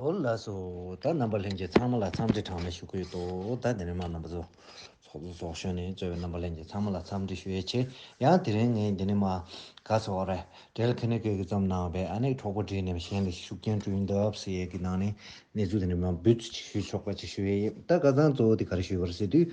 ཧོར་ལགས་སུ་ད་རྣམ་པ་ལྷན་རྒྱས་ཚང་མ་ལ་འཚམས་འདྲི་གྲངས་མེད་ཞུ་གི་ཡོད་འདུག་ད་དེ་རིང་མ་རྣམ་པ་ཚོ་ཚོགས་འདུ་ཚོགས་ཞོར་ནས་གཙོས་པའི་རྣམ་པ་ལྷན་རྒྱས་ཚང་མ་ལ་འཚམས་འདྲི་ཞུ་ཡས་ཆེ་ཡང་དེ་རིང་ངས་འདི་ནས་མ་ག་ཚོགས་ར་སྦྲེལ་ཁེ་ནི་ཁེ་གི་རྩོམ་ནང་བའི་ཨ་ནེ་གྲོགས་པོ་བྲིས་ནས་གཞན་ལ་ཤུགས་རྐྱེན་སྤྲོད་འདུག་ཟེར་ཡས་ཀི་ནང་ནས་གནས་ཚུལ་དེ་འདྲ་མ་འབུད་ཚུལ་ཅིག་ཞུ་ཆོག་པ་ཅིག་ཞུ་ཡས་ཡིན་ད་ཀ་ཚང་གཙོ་བོ་དེ་ག་རེ་ཞུས་པར་ཟེར་དུས་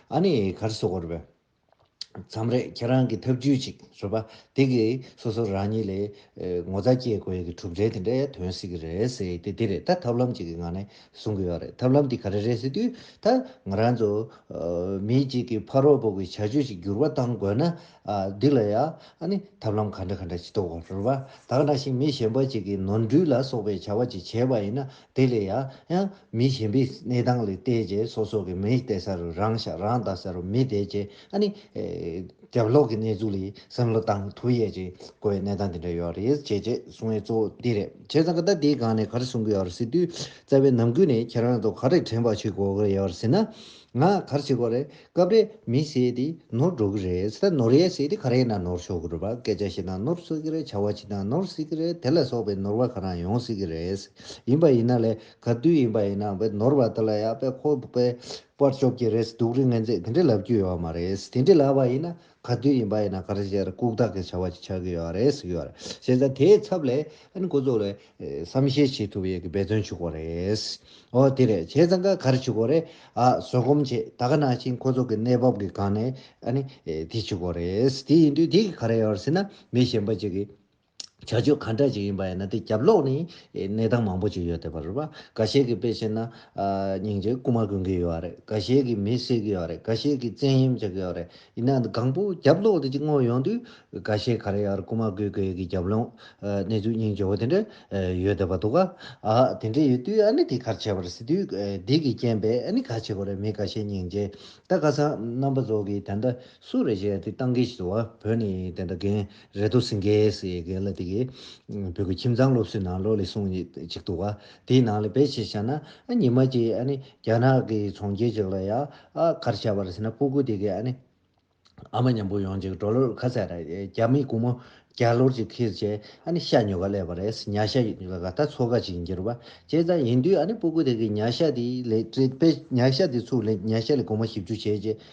ཨ་ནི་གར་སོ་གོར་བས། མཚམས་རེ་ཁྱེད་རང་གི་ཐབས་ཇུས་ཅིག་རོལ་པ་དེ་གིས་སོ་སོ་རང་ཉིད་ལས་ངོ་ཚ་སྐྱེས་དགོས་ཡས་ཀྱི་གྲུབ་འབྲས་དེ་འདྲའི་དོན་སྲིད་ཀྱི་རེད་ཟེར་ཡས་དེ་དེ་རེད་ད་ཐབས་ལམ་ཅིག་གི་ངང་ནས་བཟུང་གི་ཡོད་རེད་ཐབས་ལམ་དེ་ག་རེ་རེད་ཟེར་དུས་ད་ང་རང་ཚོ་མི་གཅིག་གི་ཕ་རོགས་པོ་གི་བྱ་སྤྱོད་ཅིག་འགྱུར་བ་གཏང་དགོས་ན་འདི་ལ་ཡང་ཨ་ནི་ཐབས་ལམ་ག་འདྲ་ག་འདྲ་ཅིག་གཏོགས་རོལ་བ་དག་ན་ཞིག་མི་གཞན་པ་ཅིག་གི་ནོར་འཁྲུལ་ལ་སོགས་པའི་བྱ་བ་ཅིག་བྱས་པ་ཡིན་ན་དེ་ལས་ཡང་མི་གཞན་པའི་གནས་སྟངས་ལས་བལྟས་རྗེས་སོ་སོ་གི་མིས་བལྟས་ས་རུ་རང་བཞག་རང་བལྟ་ས་རུ་མི་བལྟས་རྗེས་ཨ་ནི། རྒྱབ་ལོག་གི་གནས་ཚུལ་ལས་སེམས་བློ་བཏང་ཐུབ་ཡས་ཀྱི་གོ་བའི་གནས་སྟངས་དེ་འདྲ་ཡོད་རེད་བྱས་རྗེས་གསུང་བའི་གཙོ་བོ་འདི་རེད་བྱས་ཙང་ད་དེའི་སྒང་ནས་ག་རེ་གསུང་གི་ཡོད་རེད་ཟེར་དུས་རྩ་བའི་ནང་ཁུལ་ནས་ཁྱེད་རང་ཚོ་ག་རེ་དྲན་པ་ཞིག་གོ་གི་ཡོད་རེད་ཟེར་ན། ང་གར་ཞིག་གོ་རེད་སྐབས་རེ་མི་ཞིག་དེ་ནོར་འགྲོ་གི་རེད་ད་ནོར་ཡས་ཞིག་དེ་ག་རེ་ན་ནོར་ཤོར་གི་རེད་པ་སྐད་ཆ་ཞིག་ན་ནོར་གསོད་གི་རེད་བྱ་བ་ཞིག་ན་ནོར་སྲིད་གི་རེད་དེ་ལ་སོགས་པའི་ནོར་བ་ག་རང་ཡོང་སྲིད་གི་རེད་ཡིན་པ་ཡིན་ན་ལས་ག་དུས་ཡིན་པ་ཡིན་ན་བས་ནོར་བ་དེ་ལ་ཡག་པས་ཁོ་བས་པར་གཅོག་གི་རེད་སྡུག་རི་ངན་ཚད་དེ་འདྲས་ལབ་རྒྱུ་ཡོད་མ་རེད་དེ་འདྲས་ལབ་པ་ཡིན་ན་ག་དུས་ཡིན་པ་ཡིན་ན་ག་རེ་བྱས་ར་ལྐུག་རྟགས་ཀྱི་བྱ་བ་ཅིག་ཆགས་ཀྱི་ཡོད་རེད་ཟེར་གྱི་ཡོད་རེད། བྱས་ཙང་དེའི་ཚབ་ལས་ཨན་འགོ་གཙོ་ལས་བསམ་ཤེས་བྱེད་ཐུབ་ཡོད་ཀྱི་འབད་བརྩོན་བྱུག་གོ་རེད། ཨོ་དེ་རེད་བྱས་ཙང་ག་རེ་བྱུག་གོ་རེད། ཨ་བཟོད་སྒོམ་བྱེད་ད་ག་ནང་བཞིན་ཁོ་ཚོ་གི་གནས་བབ་ཀྱི་སྒང་ནས་ཨ་ནི་དེ་བྱུག་གོ་རེད། དེ་ཡིན་དུས་དེ་གི་ག་རེ་ཡོད་རེད་ཟེར་ན་མི་གཞན་པ་ཅིག་གིས། བྱ་སྤྱོད་ག་འདྲ་ཞིག་ཡིན་པ་ཡིན་ན་དེ་རྒྱབ་ལོག་ནས་གནས་སྟངས་མང་པོ་ཞིག་ཡོད་དེ་བར་འགའ་ཤས་ཀྱི་དཔེ་བཤད་ན། སྙིང་རྗེ་རྐུ་མ་གོན་གྱི་ཡོད་རེད་འགའ་ཤས་ཀྱི་མི་བསད་ཀྱི་ཡོད་རེད་འགའ་ཤས་ཀྱི་བཙན་གཡེམ་བྱེད་ཀྱི་ཡོད་རེད་ཡིན་ན་གང་པོ་རྒྱབ་ལོག་དེ་ཅིག་དངོས་ཡོང་དུས་འགའ་ཤས་ག་རེ་ཡག་རྐུ་མ་གོས་གོས་ཀྱི་རྒྱབ་ལོག་གནས་ཚུལ་སྙིང་རྗེ་བོ་དེ་འདྲ་ཡོད་དེ་བ་འདུག་ག་དེ་འདྲ་ཡོད་དུས་ཨ་ནི་དེ་གར་བྱས་པར་ཟེར་དུས་སྡིག་གི་རྐྱེན་པས་ཨ་ནི་ག་བྱེད་དགོས་རེད་མི་འགའ་ཤས་སྙིང་རྗེ་ད་ག་ས་རྣམ་པ་ཚོ་གིས་དེ་འདྲ་སུ་རེད་བཤད་དེ་སྟངས་ཀྱི་བ་བོད་ནས་དེ་འདྲ་རྒན། རེད་འདུག་སིང་གེ་སི་ཡེ་གེ་ལ་དེ་གའི་བོད་ཀྱི་ཁྱིམ་ཚང་སློབ་གསོའི་ནང་ལོ་ལེགས་གསུང་གཅིག་འདུག་ག་དེའི་ནང་ལ་བེད་སྤྱད་བྱས་ན་ཨ་ཉི་མ་གཅིག་ཨ་ནི་རྒྱ་ནག་གི་ཚོང་ཁྱེར་ཅིག་ལ་ཡ་ཨ་གར་བྱས་པར་ཟེར་ན་སྤུ་གུ་དེ་གའི་ཨ་ནི་ཨ་མ་ཉམས་པོ་ཡོང་ཅིག་འགྲོ་ལོར་ཁ་ཟས་ར་རྒྱ་མི་གུང་མོ་རྒྱ་ལོར་ཅིག་ཁིར་བྱས་ཨ་ནི་ཤ་ཉོ་ག་ལས་པ་རེད་ཉྭ་ཤ་ལ་ག་ད་ཚོ་ག་ཅིག་འགྱུར་བ་བྱས་ཙང་ཡིན་དུས་ཨ་ནི་སྤུ་གུ་དེ་གའི་ཉྭ་ཤ་དེ་ལས་བྲེད་པས་ཉྭ་ཤ་དེ་ཚུགས་ལས་ཉྭ་ཤ་ལས་གོང་མ་ཞིབ་འཇུག་བྱས་རྗེས།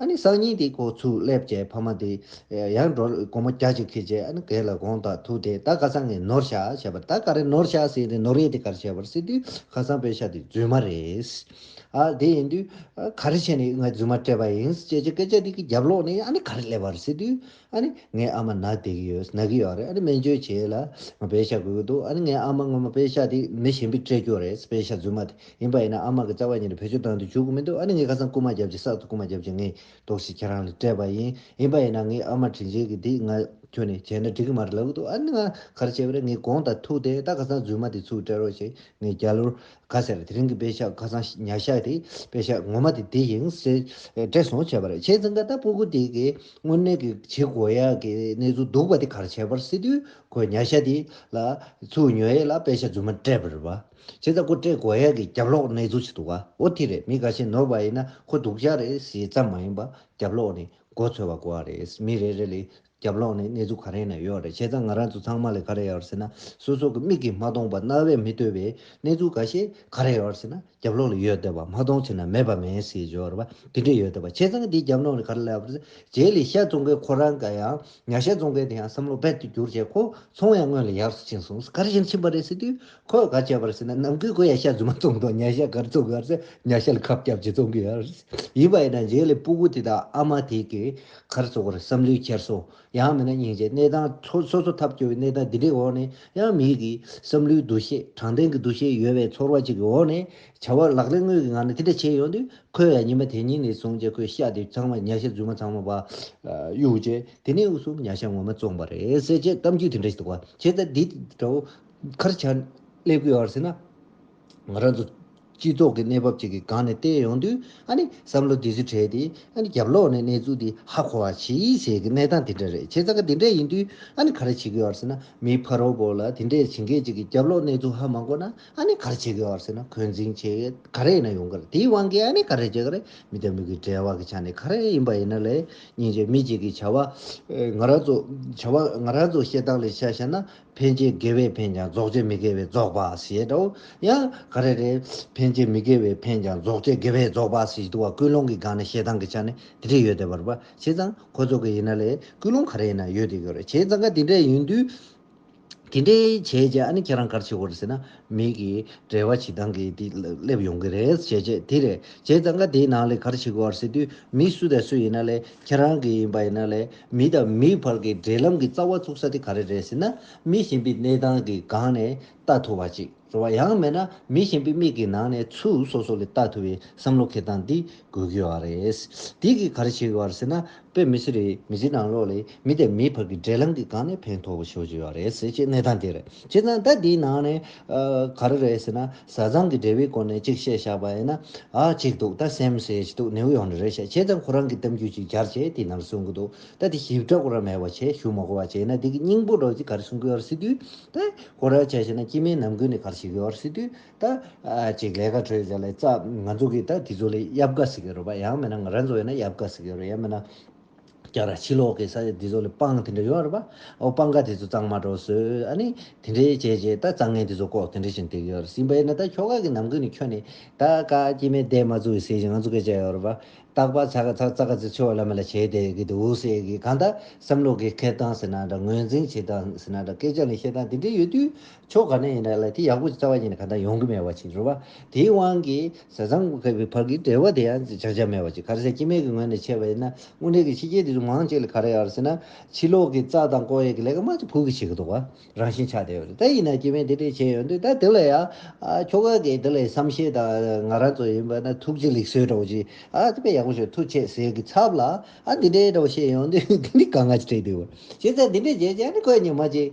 ཨ་ནི་སང་ཉིན་དེའི་ཁོག་ཚུར་སླེབས་རྗེས་ཕ་མ་དེ་ཡང་འགྲོ་དགོང་མོ་རྒྱ་ཅིག་ཁེལ་རྗེས་ཨ་ནི་གད་ལ་དགོང་དག་ཐུག་སྟེ་ད་ག་ས་ངས་ནོར་ཤ་བྱས་པར་ད་ག་རེ་ནོར་ཤ་ཟེར་ཏེ་ནོར་ཡས་དེ་ག་རེ་བྱས་པར་ཟེར་དུས་ཁ་སང་པའི་ཤ་དེ་རྫུན་མ་རེད། ཨ་དེ་ཡིན་དུས། ག་རེ་བྱས་ནས་ངས་རྫུན་མ་སྤྲད་པ་ཡིན་ཅེས་ཀྱི་སྐད་ཆ་དེ་གི་རྒྱབ་ལོག་ནས་ཨ་ནི་ག་རེ་སླེབས་པར་ཟེར་དུས། ཨ་ནི་ངའི་ཨ་མ་ནག་དེ་གི་ཡོད་ནག་གི་ཡོད་རེད་ཨ་ནི་སྨན་བཅོས་བྱེད་ལ་ང་པའི་ཤ་དགོས་ཀྱི་འདུག་ཨ་ནི་ངའི་ཨ་མ་སྔོན་མ་པའི་ཤ་དེ་མི་གཞན་པས་སྤྲད་རྒྱུ་རེད་པའི་ཤ་རྫུན་མ་དེ་ཡིན་པ་ཡིན་ན་ཨ་མ་གི་རྩ་བ་ཉིད་ནས་བེད་སྤྱོད་བཏང་དུ་འཇུག་གི་མི་འདུག་ཨ་ནི་ངའི་ཁ་སང་རྐུ་མ་བརྒྱབ་ཅིང་སྲག་ཏུ་རྐུ་མ་བརྒྱབ་ཅིང་ངའི་དོགས་གཞི་ཁྱེད་རང་ལས་སྤྲད་པ་ཡིན་ཡིན་པ་ཡིན་ན་ངའི་ཨ་མ་དྲིན་ཆེན་གི་དེ་ང་ཁྱོད་ནས་བྱས་ན་འགྲིག་གི་མ་རེད་ལབ་ཀྱི་འདུག་ཨ་ནི་ང་ག་རེ་བྱས་པ་རེད་ངའི་དགོངས་དག་ཐུགས་དེ་ད་ཁ་སང་རྫུན་མ་དེ་ཚུར་སྤྲད་རོགས་ཞེས་ངའི་རྒྱ་ལོར་ག་ཟེར་དེ་རིང་གི་དཔེ་ཆ་ཁ་ཚང་ཉག་ཤག་དེ་དཔེ་ཆ་ངོ་མ་དེ་འདི་ཡིན་ཟེར་བྲེལ་སོང་བྱས་པ་རེད་བྱས་ཙང་ད་ལྟ་སྤོ་སྒུག་དེ་གའི་དངོས་གནས་ཀྱི་བྱེད་དགོས་ཡག་གི་གནས་ཚུལ་འདུག་པ་དེ་གར་བྱས་པར་སྲིད་དུས་ཁོས་ཉག་ཤག་དེ་ལ་ཚུར་ཉོས་ཡས་ལ་དཔེ་ཆ་རྫུན་མ་སྤྲད་པ་རེད་བ། བྱས་ཙང་ཁོ་སྤྲད་དགོས་ཡག་གི་རྒྱབ་ལོག་གནས་ཚུལ་ཞིག་འདུག་བ་འོ་དེ་རེད་མི་ག་ཤེད་ནོར་བ་ཡིན་ན་ཁོ་སྡུག་ཅག་རེད་ཟེར་ཙམ་མ་ཡིན་པ་རྒྱབ་ལོག་ནས་མགོ་འཚོས་བ་གོ་བ་རེད་མི་རེ་རེ་ལས་རྒྱབ་ལོགས་ནས་གནས་ཚུལ་ག་རེ་ན་ཡོད་རེད་བྱས་ཙང་ང་རང་ཚོ་ཚང་མ་ལས་ག་རེ་ཡོད་རེད་ཟེར་ན་སོ་སོ་གི་མིག་གིས་མ་མཐོང་པ་རྣ་བས་མི་ལྟོས་པའི་གནས་ཚུལ་འགའ་ཤས་ག་རེ་ཡོད་རེད་ཟེར་ན་རྒྱབ་ལོགས་ལ་ཡོད་སྡད་པ་མ་མཐོང་ཟེར་ན་མེད་པ་མེད་ཟེར་བཞོ་རེད་པ་དེ་འདྲས་ཡོད་སྡད་པ་བྱས་ཙང་དེའི་རྒྱབ་ལོགས་ནས་ག་རེ་ལབ་རེད་རྗེས་ལི་ཤཱ་ཙོང་ཁའི་ཁོ་རང་ག་ཡང་ཉག་ཤཱ་ཙོང་ཁའི་དེ་ཡང་བསམ་བློ་རྦད་དུ་བསྒྱུར་བྱས་ཁོ་ཚོང་ཡང་སྔོན་ལ་ཡག་སུ་ཕྱིན་སོང་ག་རེ་བཞིན་ཕྱིན་པ་རེད་ཟེར་དུས་ཁོས་ག་བྱས་པ་རེད་ཟེར་ན་ནམ་གུས་ཁོ་ཡང་ཤཱ་རྫུན་མ་ཙོང་དང་ཉག་ཤཱ་ག་རེ་ཙོང་གི་ཡོད་རེད་ཟེར་ན་ཉག་ཤཱ་ལ་ཁབ་སྐྱབས་ཅིག་ཙོང་གི་ཡོད་རེད་ཡིན་པ་ཡིན་ན་རྗེས་ལི་སྤུ་གུ་དེ་དང་ཨ་མ་དེ་གིས་མཁར་བཙུགས་པར་བསམ་བློའི་འཁྱེར་སོ་ཡང་མེད་ན་སྙིང་རྗེའི་གནས་དང། སོ་སོ་ཐབས་སྐྱོ་བའི་གནས་སྟངས་འདི་འདྲའི་འོག་ནས་ཡང་མིག་གིས་བསམ་བློའི་འདུ་ཤེས་དྲང་བདེན་གྱི་འདུ་ཤེས་ཡོད་པའི་ཚོར་བ་ཅིག་གི་འོག་ནས་བྱ་བ་ལག་ལེན་དངོས་ཀྱི་ངང་ནས་དེ་འདྲ་བྱས་ཡོང་དུས་ཁོས་ཡང་ཉི་མ་དེ་ཉིད་ནས་བཟུང་སྟེ་ཁོའི་ཤ་དེ་ཚང་མ་ཉྭ་ཤ་རྫུན་མ་ཚང་མ་བཡུག་རྗེས་དེ་ནས་དབུས་སུ་ཉྭ་ཤ་ངོ་མ་བཙོངས་པ་རེད་ཟེར་ཅེས་གཏམ་རྒྱུད་དེ་འདྲ་ཞིག་འདུག་བ་བྱས་ཙང་འདི་འདྲ་བོ་མཁར་བྱང་སླེབས་ཀྱི་ཡོད་རེད་ཟེར་ན། ང་རང་ཚོ་སྤྱི་ཚོགས་ཀྱི་གནས་བབ་ཅིག་གི་སྒང་ནས་བལྟས་ཡོང་དུས་ཨ་ནི་བསམ་བློ་དེ་ཚོ་བྲལ་ཏེ་ཨ་ནི་རྒྱབ་ལོག་ནས་གནས་ཚུལ་དེ་ཧ་གོ་བ་ཇི་ཡིན་ཟེར་གི་གནས་སྟངས་དེ་འདྲ་རེད་བྱས་ཙང་ཀ་དེ་འདྲ་ཡིན་དུས་ཨ་ནི་ག་རེ་བྱེད་གི་ཡོད་ཟེར་ན་མིའི་ཕ་རོལ་པོ་ལ་དེ་འདྲས་བྱེད་མཁན་ཅིག་གི་རྒྱབ་ལོག་གནས་ཚུལ་ཧ་མ་གོ་ན་ཨ་ནི་ག་རེ་བྱེད་གི་ཡོད་ཟེར་ན་འཁོན་འཛིང་ཆེ་ག་རེ་ཡིན་ན་ཡོང་གི་རེད་དེའི་དབང་གིས་ཨ་ནི་ག་རེ་བྱེད་གི་རེད་མི་དང་མི་གི་འབྲེལ་བ་གི་ཆ་ནས་ག་རེ་ཡིན་པ་ཡིན་ན་ལས་ཉིན་རྗེས་མི་ཅིག་གི་བྱ་བ་ང་རང་ཚོ་བྱ་བ་ང་རང་ཚོ་བཤད་སྟངས་ལས་ཤ་ཤ་ན་འཕེན་བྱེད་དགེ་བས་འཕེན་ཀྱང་རྫོགས་བྱེད་མི་དགེ་བས་རྫོགས་པ་ཞེས་དང། ཡང་ག་རེ་རེད། འཕེན་བྱེད་མི་དགེ་བས་འཕེན་ཀྱང་རྫོགས་བྱེད་དགེ་བས་རྫོགས་པ་ཞེས་བསྡུ་བ་ཀུན་སློང་གི་སྒང་ནས་ཞེ་སྡང་གི་ཆ་ནས་དེ་འདྲས་ཡོད་དེ་བར་པ་བྱས་ཙང་ཁོ་ཚོ་གི་ཡིན་ན་ལས་ཀུན་སློང་ག་རེ་ཡིན་ན་ཡོད་དེ་གོ་རེ་བྱས་ཙང་ཀ་དེ་འདྲས་ཡིན་དུས། དེ་འདྲས་བྱས་རྗེས་ཨ་ནི་ཁྱེད་རང་གར་ཕྱིན་གོ་རེ་ཟེར་ན། མིག་གིས་བྲལ་བ་ཞིག་དང་གིས་དེ་སླེབས་ཡོང་གི་རེད་ཞེས་བྱས། དེ་རེད་བྱས་ཙང་ཀ་དེའི་ནང་ལས་གར་བྱེད་དགོས་བར་ཟེར་དུས་མི་སུ་དང་སུ་ཡིན་ན་ལས་ཁྱེད་རང་གི་ཡིན་པ་ཡིན་ན་ལས་མི་དང་མིའི་བར་གྱི་འབྲེལ་ལམ་གྱི་རྩ་བ་ཚུགས་ས་དེ་ག་རེ་རེད་ཟེར་ན་མི་གཞན་པའི་གནས་སྟངས་ཀྱི་སྒང་ནས་ལྟ་ཐུབ་བ་ཅིག་རེད་བ་ཡང་མེད་ན་མི་གཞན་པའི་མིག་གི་ནང་ནས་ཚུལ་སོ་སོ་ལས་ལྟ་ཐུབ་བའི་བསམ་བློ་ཁེལ་སྟངས་འདི་དགོས་གི་བ་རེད། དེ་གིས་གར་བྱེད་དགོས་བར་ཟེར་ན་པས་མི་ཚེ་རེའི་མི་ཚེའི་ནང་ལོགས་ལས་མི་དང་མིའི་བར་གྱི་འབྲེལ་ལམ་གྱི་སྒང་ནས་ཕན་ཐོགས་པོ་ཞོག་བརྗོད་ཡོད་རེད་ཟེར་ཅེས་གནས་སྟངས་དེ་རེད་བྱས་ཙང་ད་འདིའི་ནང་ནས། ག་རེ་རེད་ཟེར་ན་བཟའ་ཚང་གི་འབྲེལ་བའི་སྐོར་ནས་གཅིག་བཤད་བཞག་པ་ཡིན་ན། ཨ་གཅིག་འདུག་ད་སེམས་ཟེར་གྱི་འདུག་ནེའུ་ཡོག་ནས་རེད་བཤད་བྱས་ཙང་ཁོ་རང་གི་གཏམ་རྒྱུད་ཅིག་གྱར་བྱས་དེའི་ནང་གསུང་གི་འདུག་ད་དེ་ཞིབ་ཕྲ་ཁོ་རང་མེད་པ་བྱས་ཞུ་མ་གོ་བ་བྱས་ན་འདི་གི་སྙིང་པོ་རོ་གཅིག་ག་རེ་གསུང་གི་ཡོད་རེད་ཟེར་དུས། ད་ཁོ་རང་བྱས་བྱས་ན་སྐྱིད་མེད་ནམ་དགོས་ནས་ག་རེ་བྱེད་གི་ཡོད་རེད་ཟེར་དུས། ད་ཅིག་ལས་ཀ་གྲོལ་བྱས་ལ་ཙག་ང་ཚོ་གིས་ད་དེ་ཚོ་ལ་ཡབ་དགའ་ཟེར་གི་རོ་པ་ཡང་མེད་ན་ང་རང་ཚོ་ཡོད་ན་ཡབ་དགའ་ཟེར་གི་རོ་ཡང་མེད་ན་རྒྱ་ར་ཕྱི་ལོག་གི་ས་ཆ་དེ་ཚོ་ལ་སྤང་དེ་འདྲ་ཡོད་རོ་པ་ཨོ་སྤང་ཁ་དེ་ཚོ་གཙང་མ་འགྲོ་བཟོས་ཨ་ནི་དེ་འདྲའི་བྱས་བྱས་ད་གཙང་ངན་དེ་ཚོ་ལྐོག་དེ་འདྲ་བཞིན་འདེགས་ཡོད་ཟིན་པ་ཡིན་ན་ད་ཁྱོ་ག་གི་ནམ་གུས་ནི་ཁྱོད་ནི་ད་ཀ་སྐྱིད་མེད་བསྡད་མ་ཚུགས་ཡི་ཟེར་བཞིན་ང་ཚོ་སྐད་བྱས་ཡོད་རོ་པ་རྟག་པ་ཚ་ག་ཚ་ཙག་ག་ཚི་ཚི་བ་ལ་མེ་ལ་བྱས་བསྡད་གི་འདུག་ཟེར་གི་གང་ད་བསམ་བློ་གི་ཁེལ་སྟངས་ཟེར་ན་འདྲ་ངོས་འཛིན་བྱེད་སྟངས་ཟེར་ན་འདྲ་སྐད་ཆ་ནི་བཤད་སྟངས་དེ་འདྲ་ཡོད་དུས་ཕྱོགས་ག་ནས་ཡིན་ན་ལ་དེ་ཡག་པོ་རྩ་བ་ཉིད་ནས་ག་འདྲ་ཡོང་གི་མེད་པ་ཞིག་རེད་བ། དེའི་དབང་གིས་ཟས་གཙང་གི་བར་གྱི་འབྲེལ་བ་དེ་ཡང་བྱ་འཆར་མེད་པ་ཞིག་གར་ཟས་སྐྱེ་མེད་ཀྱི་ངོས་ནས་ཕྱེ་བ་ཡིན་ན་དངོས་འབྲེལ་གྱི་ཕྱི་རྒྱལ་དེ་ཚོ་མང་ཅིག་ལ་ག་རེ་ཡོད་ཟེར་ན། ཕྱི་ལོག་གི་རྩྭ་དང་ཀོ་ཡེ་གི་ལས་ཀ་མང་ཅིག་བོད་ཀྱི་བྱེད་ཀྱི་འདུག་བ། རང་བཞིན་ཆགས་བསྡད་ཡོད་རེད་ད་ཡིན་ན་སྐྱེ་མེད་དེ་འདྲས་བྱས་ཡོད་འདུག་ད་དེ་ལ་ཡང། ཁྱོ་ག་གིས་དེ་ལ་ཡང་བསམ་ཤེས་དང་ང་རང་ཚོ་ཡིན་པ་ན་ཐུགས་རྗེ་ལེགས་གསོལ་འདྲ་བོ་ཅིག་ཨ་དེ་པས་ཡག་པོ་བྱོས་ཐུགས་ཆེ་ཟས་ཀྱི་ཚབ་ལ་ཨ་འདི་འདྲས་འདྲ་བོ་བཤད་ཡོང་དུས་དེ་འདྲས་ག་ང་ཅིག་བྲིས་འདུག་བ། བྱས་ཙང་འདི་འདྲས་བྱས་ཀྱང་ནི་ཁོས་ཉི་མ་གཅིག།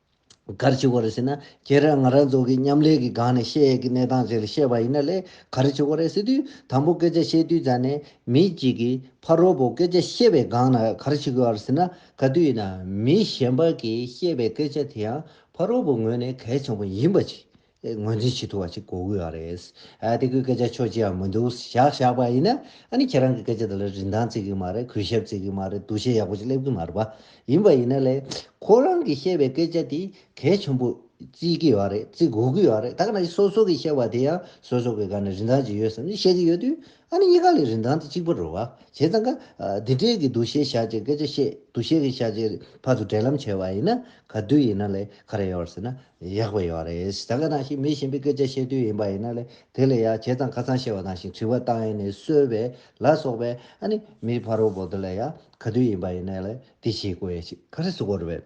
གར་བྱེད་གོ་རེ་ཟེར་ན་ཁྱེད་རང་ང་རང་ཚོ་གི་མཉམ་ལས་ཀྱི་སྒང་ནས་བཤད་ཡས་ཀྱི་གནས་སྟངས་ཟེར་བཤད་པ་ཡིན་ན་ལས་གར་བྱེད་གོ་རེ་ཟེར་དུས་དང་པོ་སྐད་ཆ་བཤད་དུས་ཙང་ནས་མི་གཅིག་གིས་ཕ་རོལ་པོ་སྐད་ཆ་བཤད་པའི་སྒང་ན་གར་བྱེད་གོ་རེ་ཟེར་ན་ག་དུས་ཡིན་ན་མི་གཞན་པ་གིས་བཤད་པའི་སྐད་ཆ་དེ་ཡང་ཕ་རོལ་པོ་ངོས་ནས་གལ་ཆེན་པོ་ཡིན་པ་ཞིག་ངོས་འཛིན་བྱེད་ཐུབ་པ་ཞིག་གོ་དགོས་པ་རེད། དེ་གོས་སྐད་ཆ་ཆོག་ཅི་ཡང་མི་འདུག་བཞག་བཞག་པ་ཡིན་ན། ཨ་ནི་ཁྱེད་རང་གི་སྐད་ཆ་དེ་ལ་རིན་ཐང་བརྩི་གི་མ་རེད་གུས་ཞབས་བརྩི་གི་མ་རེད་འདུ་ཤེས་ཡག་པོ་ཞིག་སླེབས་གི་མ་རེད་པ། ཡིན་པ་ཡིན་ན་ལས། ཁོ་རང་གིས་བཤད་པའི་སྐད་ཆ་དེ་གལ་ཆེན་པོ་བརྩི་གི་ཡོད་རེད་བརྩི་དགོས་གི་ཡོད་རེད་ད་ག་ནང་བཞིན་སོ་སོ་གིས་བཤད་པ་དེ་ཡང་སོ་སོ་གི་སྒང་ནས་རིན་ཐང་ཅིག་ཡོད་བསམ་ནས་བཤད་གི་ཡོད་དུས། ཨ་ནི་གཉིས་ཀ་ལས་རིན་ཐང་དེ་གཅིག་པ་རུ་བ། བྱས་ཙང་ཀ། འདི་འདྲའི་གི་འདུ་ཤེས་བཞག་ཅེས་སྐད་ཆ་བཤད་འདུ་ཤེས་ཀྱི་བཞག་ཅེས་ཕར་ཚུར་འབྲེལ་ལམ་བྱས་བ་ཡིན་ན་ག་དུས་ཡིན་ན་ལས་ག་རེ་ཡོད་ཟེར་ན་ཡག་པོ་ཡོད་རེད་ད་ག་ནང་བཞིན་མི་གཞན་པའི་སྐད་ཆ་བཤད་དུས་ཡིན་པ་ཡིན་ན་ལས་དེ་ལས་ཡག་བྱས་ཙང་ཁ་ཚང་བཤད་བ་ནང་བཞིན་དྲི་བ་བཏང་ཡས་ནས་གསོལ་བས་ལ་སོགས་པས་ཨ་ནི་མིའི་ཕ་རོལ་བོ་དེ་ལས་ཡག་ག་དུས་ཡིན་པ་ཡིན་ན་ལས་དེ་བྱེད་དགོས་ཞེས་ག་རེ་བཟོ་དགོས་རེད་བས།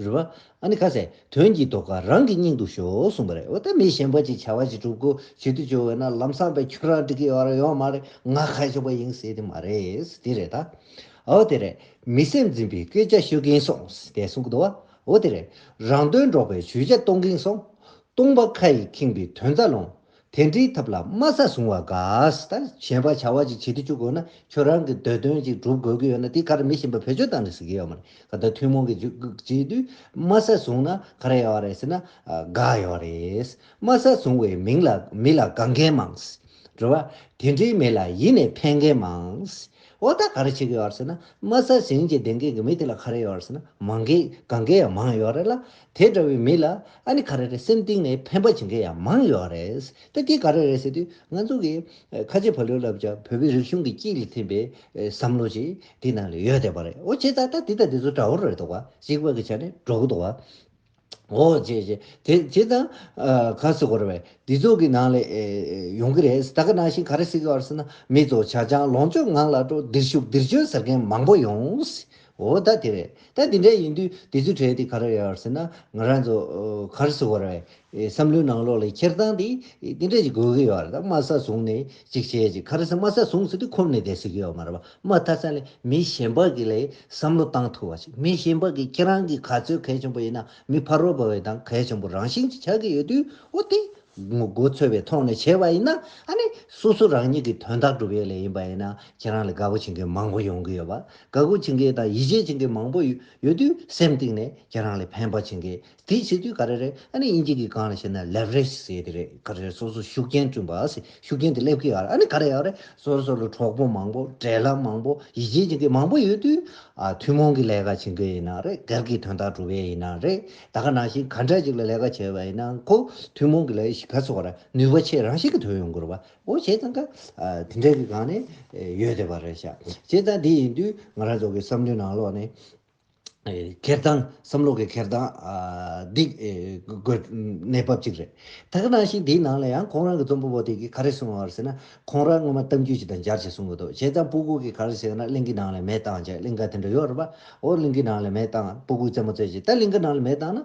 རུ་བ། ཨ་ནི་ཁ་ཟས། དོན་གྱིས་དོ་ཁ་རང་གི་སྙིང་དུ་ཞོག་གསུངས་པ་རེད་འོ་ད་མི་གཞན་པ་ཅིག་བྱ་བ་ཅིག་གྲུབ་གོ་བྱེད་དུ་བཅུག་འོ་ན་ལམ་སང་པས་ཁྱོད་རང་འགྲིག་གི་ཡོད་ར་ཡོད་མ་རེད་ང་ཁ་ཤོ་པ་ཡིན་ཟེར་དེ་མ་རེད་དེ་རེད་ད། འོ་དེ་རེད། མི་སེམས་འཛིན་པའི་སྐད་ཆ་ཤོད་གིན་སོང་དེ་གསུངས་གི་འདུག་བ། འོ་དེ་རེད། རང་དོན་སྒྲོག་པའི་ཇུས་ཆ་གཏོང་གིན་སོང། སྟོང་པ་ཁ་ཡིས་ཁེངས་པའི་དོན་རྩ་རླུང། དེ་འདྲིའི་ཐབས་ལ་སྨྲ་ས་བཟུང་བ་དགའ། ད་གཞན་པ་བྱ་བ་ཅིག་བྱེད་དུ་བཅུག་དགོས་ན་ཁྱོད་རང་གི་འདོད་དོན་ཅིག་སྒྲུབ་དགོས་ཀྱི་ཡོད་ན་དེ་ག་རེ་མི་ཤེས་པར་བེད་སྤྱོད་བཏང་ནས་ཟེར་གྱི་ཡོད་མ་རེད་ད་ཐུན་མོང་གི་བྱེད་དུས་སྨྲ་ས་བཟུང་ན་ག་རེ་ཡོད་རེད་ཟེར་ན་དགའ་ཡོད་རེད། སྨྲ་ས་བཟུང་བའི་མིང་ལ་མི་ལ་དགའ་མཁན་མང། རེད་བ། དེ་འདྲའི་མི་ལ་ཡིད་ནས་ཕན་མཁན་མང། འོ་ད་ག་རེ་བྱེད་ཀྱི་ཡོད་ཟེར་ན་སྨྲ་ས་ཟིན་གྱི་བདེན་མཁན་གྱི་མི་དེ་ལ་ག་རེ་ཡོད་རེད་ཟེར་ན་མང་གི་དགའ་མཁན་ཡང་མང་ཡོད་རེད་ལ་དེ་འདྲ་བའི་མི་ལ་ཨ་ནི་ག་རེ་རེད་སེམས་གཏིང་ནས་ཕན་པ་བྱེད་མཁན་ཡང་མང་ཡོད་རེད། ད་ཀྱིས་ག་རེ་རེད་ཟེར་དུས་ང་ཚོ་གིས་ཁ་ཆེ་ཕ་ལོས་ལབ་ཀྱང་བོད་པའི་རིག་གཞུང་གི་དཀྱིལ་ལས་ཐིམ་པའི་བསམ་བློ་ཞིག་དེའི་ནང་ལས་ཡོད་བསྡད་པ་རེད་འོ་བྱས་ཙང་ད་འདི་དང་འདི་ཚོ་འདྲ་བོ་རེད་འདུག་བ་གཅིག་བར་གྱི་ཆ་ནས་འགྲོ་གི་འདུག་བ། འོ་བྱས་བྱས་དེ་བྱས་ཙང་ག་ཟེར་དགོས་རེད་བས་འདི་ཚོ་གི་ནང་ལས་ཡོང་གི་རེད་ད་ག་ནང་བཞིན་ག་རེ་ཟེར་གི་བར་ཟེར་ན་མི་ཚོ་བྱ་ཅང་ལོངས་སྤྱོད་ངང་ལ་འགྲོ་འདིར་བཞུགས་འདིར་བྱོན་ཟེར་མཁན་མང་པོ་ཡོང། འོ་ད་དེ་རེད། ད་དེ་འདྲ་ཡིན་དུས་དེ་ཚོའི་གྲས་དེ་ག་རེ་ཡོད་ཟེར་ན་ང་རང་ཚོ་གར་སོ་བར་བའི་བསམ་བློའི་ནང་ལོགས་ལས་འཁྱེར་སྟངས་དེ་དེ་འདྲ་ཞིག་དགོས་ཀྱི་ཡོད་རེད་ད་དམའ་ས་བཟུང་ནས་ཅིག་བྱེད་ཅིག་ག་རེ་ཟེར་དམའ་ས་བཟུང་ཟེར་དུས་ཁོམ་ནས་བསྡད་སྲིད་ཀྱི་ཡོད་མ་རེད་པ་དམའ་ཐ་ས་ནས་མི་གཞན་པ་གི་ལས་བསམ་བློ་བཏང་ཐུབ་བ་ཞིག་མི་གཞན་པ་གི་ཁྱེད་རང་གི་ག་ཚོད་གལ་ཆེན་པོ་ཡིན་ན་མི་ཕར་རོ་བར་བའི་དང་གལ་ཆེན་པོ་རང་བཞིན་གྱི་ཆགས་ཀྱི་ཡོད་དུས་འོ་དེ་ངོ་རྒོལ་ཚོད་པའི་ཐོག་ནས་བྱས་པ་ཡིན་ན་ཨ་ནི་སོ་སོ་རང་ཉིད་ཀྱི་དོན་དག་སྒྲུབ་ཡོད་ལས་ཡིན་པ་ཡིན་ན་ཁྱེད་རང་ལས་དགའ་པོ་བྱེད་མཁན་མང་པོ་ཡོང་གི་ཡོད་པ་དགའ་མགུ་བྱེད་མཁན་དང་ཡིད་ཆེས་བྱེད་མཁན་མང་པོ་ཡོད་དུས་སེམས་གཏིང་ནས་ཁྱེད་རང་ལ་ཕན་པ་བྱེད་མཁན་དེ་བྱེད་དུས་ག་རེ་རེད་ཨ་ནི་དབྱིན་ཇི་གི་སྒང་ལ་བཤད་ན Leverage ཟེར་དེ་རེད་ག་རེ་རེད་སོ་སོར་ཤུགས་རྐྱེན་བསྐྲུན་པ་ཟེར་ཤུགས་རྐྱེན་དེ་སླེབས་ཀྱི་ཡོད་ཨ་ནི་ག་རེ་ཡག་རེད་སོ་སོ་ལ་གྲོགས་པོ་མང་པོ་འབྲེལ་ལམ་མང་པོ་ཡིད་ཆེས་བྱེད་མཁན་མང་པོ་ཡོད་དུས་ཐུན་མོང་གི་ལས་ཀ་བྱེད་མཁན་ཡིན་ན་རེད་སྒེར་གྱི་དོན་དག་སྒྲུབ་མཁན་ཡིན་ན་རེད་ད་ག་ནང་བཞིན་ག་འདྲ་ཞིག་ལ་ལས་ཀ་བྱེད་པ་ཡིན་ན་མཁོ་ཐུན་མོང་གི་ལས་ཞིག་ག་ཚོགས་ར་ནུས་པ་ཆེད་རང་ཞིག་གི་དོན་ཡོང་དགོས་ར་བ་འོ་བྱས་ཙང་ཀ་དེ་འདྲ་གི་སྒང་ནས་ཡོད་བསྡད་པ་རེད་ཤག་བྱས་ཙང་དེ་ཡིན་དུས་ང་རང་ཚོ་གི་བསམ་བློའི་ནང་ལོག་ནས་འཁེར་སྟངས་བསམ་བློ་གི་འཁེར་སྟངས་འདི་དགོས་གནས་བབ་ཅིག་རེད། ད་ག་ནང་ཞིག་དེའི་ནང་ལ་ཡང་ཁོང་རང་གི་རྩོམ་པོ་པོ་དེ་གིས་ག་རེ་གསུངས་ཡོང་བ་ཟེར་ན་ཁོང་རང་སྔོན་མ་གཏམ་རྒྱུད་ཅིག་དང་སྦྱར་བྱས་གསུངས་གི་འདུག་བྱས་ཙང་སྤུ་གུག་གིས་ག་རེ་བྱས་ན་གླིང་གི་ནང་ལ་མེ་བཏང་བྱས་གླིང་ག་དེ་འདྲ་ཡོད་རེད་པ་འོ་གླིང་གི་ནང་ལ་མེ་བཏང་སྤུ་གུག་རྩེད་མོ་རྩེད་བྱས་ད་གླིང་ག་ནང་ལ་མེ་བཏང་ན་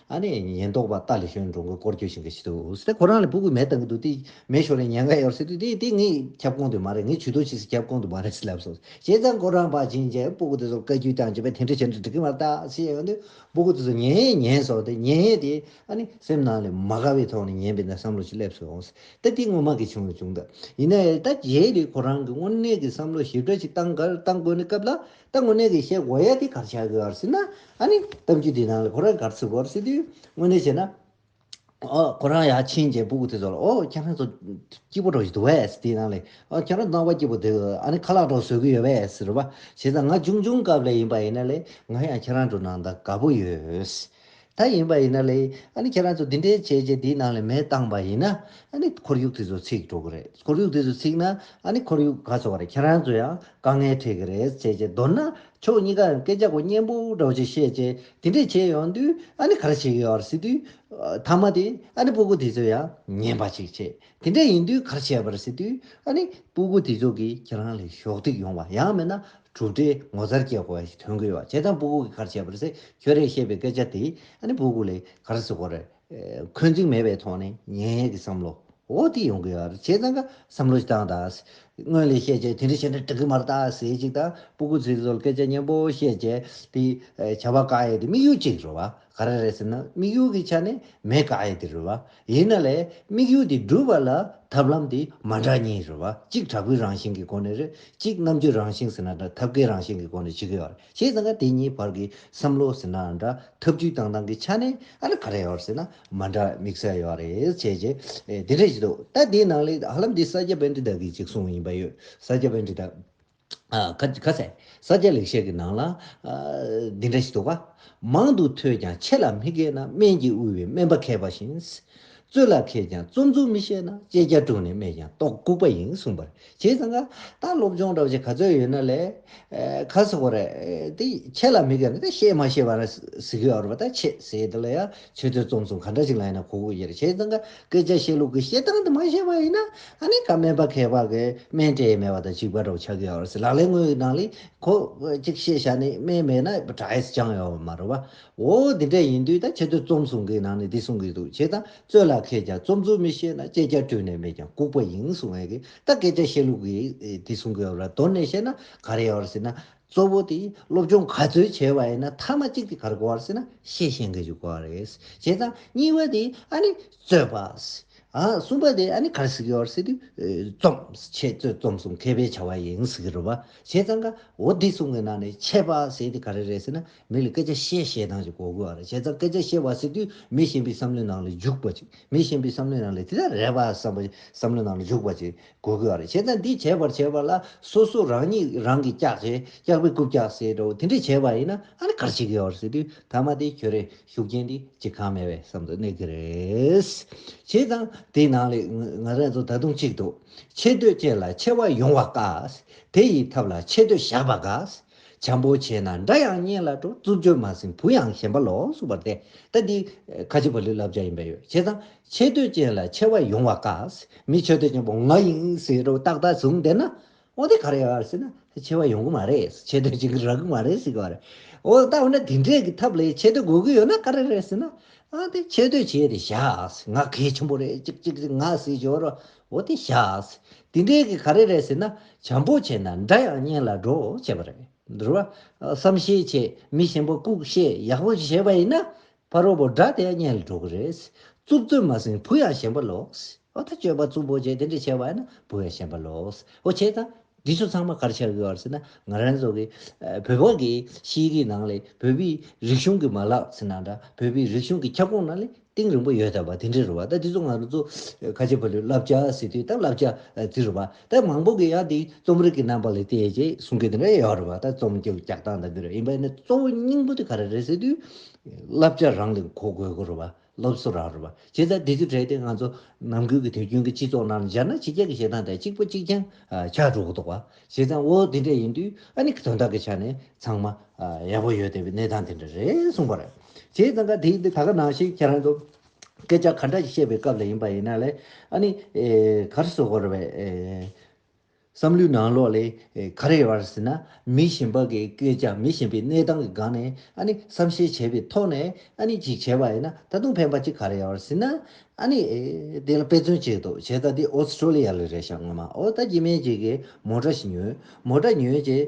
ཨ་ནེ་ཉེན་རྟོག་པ་ཏཱ་ལི་ཞོན་འགྲོ་མགོན་སྐོར་སྐྱོད་བྱེད་ཀྱི་འདུག་ཁོ་རང་ལ་སྤུ་གུ་མེད་བཏང་གི་འདུག་དེ་མེད་ཞོར་ལ་ཉེན་ཁ་ཡོད་ཟེར་དུས་དེ་ངའི་ཁྱབ་ཁོངས་དུ་མ་རེད་ངས་ཇུས་གཏོགས་བྱེད་སའི་ཁྱབ་ཁོངས་དུ་མ་རེད་ལབ་སོང་བྱས་ཙང་ཁོ་རང་བར་བྱིན་རྗེས་སྤུ་གུ་དེ་ཚོར་བཀའ་རྒྱུད་བསྐྱངས་བྱས་པས་དེ་འདྲ་བྱས་འདྲ་འགྲིག་གི་མ་རེད་ད་ཅི་ཡོད་དུས་སྤུ་གུ་དེ་ཚོ་ཉན་ཡས་ཉན་སོང་སྟེ་ཉན་ཡས་དེ་ཨ་ནེ་སེམས་ནང་ལས་མ་དགའ་བའི་ཐོག་ནས་ཉན་པའི་ནད་བསམ་བློ་ཞིག་སླེབས་སོང་ད་དེ་ངོ་མ་གལ་ཆེན་པོ་བྱུང་ད་ཡིན་ནའི་ད་རྗེས་ལས་ཁོ་རང་གི་དངོས་གནས་ཀྱི་བསམ་བློ་ཞིབ་ཕྲ་ཞིག་བཏང་དགོས་ན་སྐབས་ལ་ད་དངོས་གནས་ཀྱི་ཤེས་བྱ་དེ་གར་བྱ་དགོས་བར་སྲིད་ན་ཨ་ནི་གཏམ་རྒྱུད་དེའི་ནང་ལ་ཁོ་རང་གར་ཚུད་དགོས་བར་སྲིད་དུས་དངོས་གནས་བྱས་ན། ཨོ། ཁོ་རང་ཡར་ཕྱིན་རྗེས་སྤུ་གུ་དེ་ཚོ་ལ་ཨོ། ཁྱེད་རང་ཚོ་སྐྱིད་པོ་འགྲོ་བཞིན་འདུག་བས་དེའི་ནང་ལས་ཨོ་ཁྱེད་རང་ཚོ་རྣམ་པ་སྐྱིད་པོ་འདུག་ཨ་ནི་ཁ་ལག་གྲོགས་བཟོ་གི་ཡོད་བས་རེད་པ། བྱས་ཙང་ང་ཅུང་ཆུང་སྐབས་ལས་ཡིན་པ་ཡིན་ན་ལས་ང་ཡང་ཁྱེད་རང་དྲུང་ན་ད་དགའ་པོ་ཡོད། ད་ཡིན་པ་ཡིན་ན་ལེ་ཨ་ནི་ཁྱེད་རང་ཚོ་འདི་འདྲའི་བྱས་རྗེས་འདིའི་ནང་ལས་མེད་བཏང་པ་ཡིན་ན་ཨ་ནི་ཁོར་ཡུག་དེ་ཚོ་ཚིག་འགྲོ་གི་རེད་ཁོར་ཡུག་དེ་ཚོ་ཚིག་ན་ཨ་ནི་ཁོར་ཡུག་ག་ཚོ་བ་རེད་ཁྱེད་རང་ཚོ་ཡང་དཀའ་ངལ་འཕྲད་གི་རེད་བྱས་རྗེས་མདོར་ན་ཕྱོགས་གཉིས་ཀ་ཡང་སྐད་ཆ་གོ་སྙན་པོ་འདྲ་བོ་ཅིག་བཤད་རྗེས་དེ་འདྲས་བྱས་ཡོང་དུས་ཨ་ནི་ག་རེ་བྱེད་གི་ཡོད་རེད་ཟེར་དུས། མཐའ་མ་དེ་ཨ་ནི་སྤུ་གུ་དེ་ཚོས་ཡང་ཉན་པ་ཅིག་བྱེད་དེ་འདྲ་ཡིན་དུས་གར་བྱས་པར་ཟེར་དུས་ཨ་ནི་སྤུ་གུ་དེ་ཚོ་གིས་ཁྱེད་རང་ལ་གཞོགས་འདེགས་ཡོང་བ་ཡང་མེད་ན་གྲུབ་འབྲས་ངོ་མཚར་སྐྱེ་དགོས་པ་ཞིག་ཐོན་གི་ཡོད་བྱས་ཙང་སྤུ་གུ་གིས་གར་བྱས་པར་ཟེར་ཁྱོད་རས་བཤད་པའི་སྐད་ཆ་དེས་ཨ་ནི་སྤུ་གུ་ལས་གར་བཟོ་བར་འཁོན་འཛིང་མེད་པའི་ཐོག་ནས་ངན་ཡག་གི་བསམ་བློ་འོ་དེ་ཡོང་གི་ཡོད་བྱས་ཙང་ག་བསམ་བློ་ཞིག་བཏང་ད་སྔོན་ལས་བཤད་བྱས་དེ་འདྲ་བྱས་འདྲ་འགྲིག་གི་མ་རེད་ད་ཟེར་ཅིག་ད་སྤུ་གུ་ཚོས་ཚོར་སྐད་ཆ་སྙན་པོ་བཤད་བྱས་དེ་བྱ་བ་ག་ཡེ་དེ་དམིགས་ཡུལ་གཅིག་རེད་བ་ག་རེ་རེད་ཟེར་ན་དམིགས་ཡུལ་གྱི་ཆ་ནས་མེད་ག་ཡེ་དེ་རེད་བ། ཡིན་ན་ལས་དམིགས་ཡུལ་དེ་སྒྲུབ་པ་ལ་ཐབས་ལམ་དེ་མ་འདྲ་གཉིས་རེད་བ་གཅིག་དྲག་པོའི་རང་བཞིན་གྱི་སྒོ་ནས་རེད་གཅིག་རྣམ་དཔྱོད་རང་བཞིན་ཟེར་ན་འདྲ་ཐབས་མཁས་རང་བཞིན་གྱི་སྒོ་ནས་བྱེད་གི་ཡོད་རེད་ཤེས་ཟིན་ག་དེ་གཉིས་བར་གྱི་བསམ་བློ་ཟེར་ན་འདྲ་ཐབས་བྱུས་བཏང་སྟངས་ཀྱི་ཆ་ནས་ཨ་ལ་ག་རེ་ཡོད་ཟེར་ན་མ་འདྲ་དམིགས་བསལ་ཡོད་རེད་བྱས་རྗེས་དེ་འདྲ་ཞིག་འདུག་ད་དེའི་ནང་ལས་ཧ་ལམ་དེ་ས་སྐྱ་བན་དེ་དག་གིས་གཅིག་གསུངས་བ་ཡིན་པ་ཡོད་ས་སྐྱ་བན་དེ་དག། ག་ཚད། ས་སྐྱ་ལེགས་བཤད་ཀྱི་ནང་ལ། འདི་འདྲ་ཞིག་འདུག་ག། མང་དུ་ཐོས་ཀྱང་ཆེ་ལ་མི་སྐད་ན་སྨན་གྱིས་དབུལ་བའི་སྨན་པ་མཁས་པ་བཞིན། བཙོད་ལ་མཁས་ཀྱང་བཙོ་འཛུགས་མི་ཤེས་ན་ལྕེ་སྐྱ་བཀྲུས་ནས་སྨྲས་ཀྱང་ལྟོགས་ལྐུགས་པ་ཡིན་གསུངས་པར་བྱས་ཙང་ཀ། ད་སློབ་སྦྱོང་འདྲ་བོ་ཞིག་ག་ཚོད་ཡོད་ན་ལས། ཁ་སོགས་པ་རེད། དེ་ཆེ་ལ་མི་སྐད་ན་དེ་ཤེས་མ་ཤེས་པ་ན་ཟིག་ཡོད་རེད་པ་ད་ཆེས་ཟེར་དེ་ལ་ཡང་ཆོས་ཐོས་རྩོམ་གསུམ་ག་འདྲ་ཞིག་ལ་ཡིན་ན་གོ་གུས་ཡེར་བྱས་ཙང་ཀ་སྐད་ཆ་བཤད་ལུགས་ཀྱི་ཤེས་སྟངས་དེ་མ་ཤེས་པ་ཡིན་ན་ཨ་ནི་ཀ་སྨན་པ་མཁས་པ་གི་སྨན་སྤྲད་མེད་པ་དང་གཅིག་པ་འདྲ་བོ་ཆགས་ཀྱི་ཡོད་རེད་ལག་ལེན་དངོས་ཀྱི་ནང་ལས་ཁོ་གཅིག་ཤེས་བྱ་ནི་སྨན་མེད་ན་གྲྭ་ཡས་ཅང་ཡོད་པ་མ་རེད་བ་འོ་འདི་འདྲ་ཡིན་དུས་ད་ཆོས་ཐོས་རྩོམ་གསུམ་གའི་ནང་ནས་འདི་གསུང་གི་འདུག་བྱས་ཙང་རྩོད་ལ་མཁས་ཀྱང་རྩོམ་རྩོད་མི་ཤེས་ན་སྤྱད་རྒྱ་བཀྲུས་ནས་མེད་ཀྱང་ལྐུག་པ་ཡིན་གསུང་ངེས་གི་ད་སྐད་ཆ་བཤད་ལུགས་ཀྱི་འདི་གསུང་གི་ཡོད་རེད་དོར་ནས་བཤད་ན་ག་རེ་ཡོད་རེད་ཟེར་ན་གཙོ་བོ་དེ་སློབ་སྦྱོང་ག་ཚོད་བྱས་པ་ཡིན་ན་མཐའ་མ་གཅིག་དེ་གར་གོ་བར་སྲིད་ན་ཤེས་ཤེས་འགལ་འཇུག་གོ་བ་རེད། བྱས་ཙང་གཉིས་པ་དེ་ཨ་ནི་རྩོད་པ། གསུམ་པ་དེ་ཨ་ནི་གར་སིག་ཡོད་བར་སྲིད་དུས་རྩོམ་ཆེད་རྩོད་རྩོམ་གསུམ་མཁས་པའི་བྱ་བ་ཡིན་སྲིད་ཀྱི་རེད་པ། བྱས་ཙང་ཀ་འོ་འདི་གསུམ་གྱི་ནང་ནས་ཆད་པ་སྲིད་དེ་ག་རེ་རེད་སྲིད་ན་མི་ལ་སྐད་ཆ་བཤད་བཤད་སྟངས་ཅིག་གོ་དགོས་བ་རེད་བྱས་ཙང་སྐད་ཆ་བཤད་བར་སྲིད་དུས་མི་གཞན་པའི་བསམ་བློའི་ནང་ལ་འཇུག་པ་ཅིག་མི་གཞན་པའི་བསམ་བློའི་ནང་ལ་དེ་ལྟར་རེད་བ་བསམ་བ་བསམ་བློའི་ནང་ལ་འཇུག་པ་ཅིག་གོ་དགོས་རེད་བྱས་ཙང་འདི་བྱས་པར་བྱས་པ་ལ་སོ་སོ་རང་ཉིད་རང་གིས་སྐྱག་བྱས་སྐྱག་པའི་རྐུབ་བཀྱག་ཟེར་འདྲ་བོ་དེ་འདྲས་བྱས་པ་ཡིན་ན་ཨ་ནི་གར་བྱེད་ཀྱི་ཡོད་རེད་ཟེར་དུས་ད་མ་དེ་ཁྱོད་རེ་ཞུགས་རྐྱེན་འདི་ཅི་གང་མེད་པའི་བསམ་དུ་གནས་ཀྱི་རེད། བྱས་ཙང་དེའི་ནང་ལས་ང་རང་ཚོ་ད་དུང་གཅིག་འདུག་ཆེ་བསྟོད་ཅན་ལ་ཆེ་བ་ཡོང་བ་དཀའ། དེ་ཡི་ཐབས་ལ་ཆེ་བསྟོད་བཞག་པ་དགའ། བྱམས་པོ་བྱས་ན་འདྲ་ཡང་སྙན་ལ་སྤྲོ་རྩུབ་བརྗོད་མ་ཟིན་བུ་ཡང་ཞེན་པ་ལོག་སུབ་པར་དེ་ལྟ་འདི་ཁ་ཆེ་བ་ལུས་བསླབ་བྱ་ཡིན་པས་ཡོད་བྱས་ཙང་འཆད་བསྟོད་ཅན་ལ་ཆེ་བ་ཡོང་བ་དཀའ། མི་འཆད་བསྟོད་ཅན་པོ་ང་ཡིན་ཟེར་རོ་ཏག་ཏག་བཟུང་བསྡད་ན། འོ་དེ་ག་རེ་ཡོད་ཟེར་ན། ཆེ་བ་ཡོང་གི་མ་རེད་འཆད་བསྟོད་བྱེད་ཀྱི་རག་གི་མ་རེད་ཟེར་གི་རེད། འོ་ད་འོ་ན་དེ་འདྲས་ཀྱི་ཐབས་ལས་འཆད་བསྟོད་དགོས་ཀྱི་ཡོད་ན་ག་རེ་རེད་ཟེར་ན། འོ་དེ་འཆད་བསྟོད་བྱས་ཏེ་བཞག་ང་གལ་ཆེན་པོ་རེད་ཅིག་ཅིག་ཅིག་ང་ཟེར་གྱི་ཡོད་རེད། འོ་དེ་བཞག། དེ་འདྲས་ཀྱི་ག་རེ་རེད་ཟེར་ན། བྱམས་པོ་བྱས་ན་འདྲ་ཡང་གཉེན་ལ་འགྲོ་བྱས་པ་རེད། བསམ་ཤེས་བྱས་མི་གཞན་པ་ལྐུག་བཤད་ཡག་པོ་བྱས་པ་ཡིན་ན། ཕ་རོལ་པོ་དགྲ་དེ་ཡང་གཉེན་ལ་འགྲོ་གི་རེད། རྩུབ་རྩོད་མ་ཟིན་བུ་ཡང་ཞེན་པ་ལོགས། ཨོ་ད་སྤྱོད་པ་རྩུབ་པོ་བྱས་དེ་འདྲ་བྱས་བ་ན་བུ་ཡང་ཞེན་པ་ལོགས། ཨོ་བྱས་ཙང། འདི་ཚོ་ཚང་མ་གར་ཆགས་དགོས་བར་ཟེར་ན་ང་རང་ཚོ་གི། བོད་པ་གི་ཤེས་རིག་ནང་ལས་བོད་པའི་རིག་གཞུང་གི་མ་ལག་ཟེར་ན་འདྲ་བོད་པའི་རིག་གཞུང་གི་ཁྱབ་ཁོངས་ནང་ལས་གཏིང་རིང་པོ་ཡོད་ད་བ་དེ་འདྲ་རེད་བ་ད་འདི་ཚོ་ང་རང་ཚོ། ཁ་ཆེ་ཕ་ལུའི་བསླབ་བྱ་ཟེར་དུས་ད་བསླབ་བྱ་དེ་རེད་བ་ད་མང་པོ་གི་ཡང་དེ་རྩོམ་རིག་གི་རྣམ་པ་ལས་བལྟས་ཅེས་གསུང་མཁན་དེ་འདྲ་ཡང་ཡོད་རེད་བ་ད་རྩོམ་གྱི་ལྕགས་སྟངས་ད་འདི་རེད་ཡིན་པས་ན་གཙོ་བོ་སྙིང་པོ་དེ་ག་རེ་རེད་ཟེར་དུས། བསླབ་བྱ་རང་ལས་གོ་དགོས་སྐོར་བ། སློབ་གསོ་རང་རེ་བ། བྱེད་ཚད་དེ་ཚོའི་གྲས་དེ་ང་ཚོ་ནང་ཁུལ་གྱི་དུས་རྒྱུན་གྱི་སྤྱི་ཚོགས་ནང་སྦྱར་ན་ཕྱི་རྒྱལ་གྱི་བྱེད་སྟངས་དང་གཅིག་པ་གཅིག་རྐྱང་ཆགས་འགྲོ་གི་འདུག་བ། བྱེད་སྟངས་ཨོ་དེ་འདྲ་ཡིན་དུས་ཨ་ནི་གི་དོན་དག་གི་ཆ་ནས་ཚང་མ་ཡག་པོ་ཡོད་དེ་བས་གནས་སྟངས་དེ་འདྲ་རེད་གསུངས་པ་རེད། བྱས་ཙང་ཀ་དེའི་ད་ག་ནང་བཞིན་ཁྱེད་རང་ཚོ་སྐད་ཆ་ག་འདྲ་ཞིག་བཤད་པའི་སྐབས་ལ་ཡིན་པ་ཡིན་ན་ལས་ཨ་ནི་གར་སོ་སྐོར་བས། བསམ་བློའི་ནང་ལོགས་ལས་ག་རེ་བར་ཟེར་ན་མི་གཞན་པ་གི་སྐད་ཆ་མི་གཞན་པའི་གནས་སྟངས་ཀྱི་སྒང་ནས་ཨ་ནི་བསམ་ཤེས་བྱས་པའི་ཐོག་ནས་ཨ་ནི་ཅིག་བྱས་པ་ཡིན་ན་ད་དུང་ཕན་པ་ཅིག་ག་རེ་ཡོད་བར་ཟེར་ན་ཨ་ནི་དེ་ལ་དཔེ་མཚོན་བྱས་འདུག་བྱས་ཙང་འདི་ཨོ་སི་ཀྲོ་ལི་ཡ་ལ་རེད་བྱ་ངོ་མ་ཨོ་ད་གྱི་མེད་ཅིག་གིས་མོ་འདྲ་ཞིག་ཉོས་མོ་འདྲ་ཉོས་རྗེས་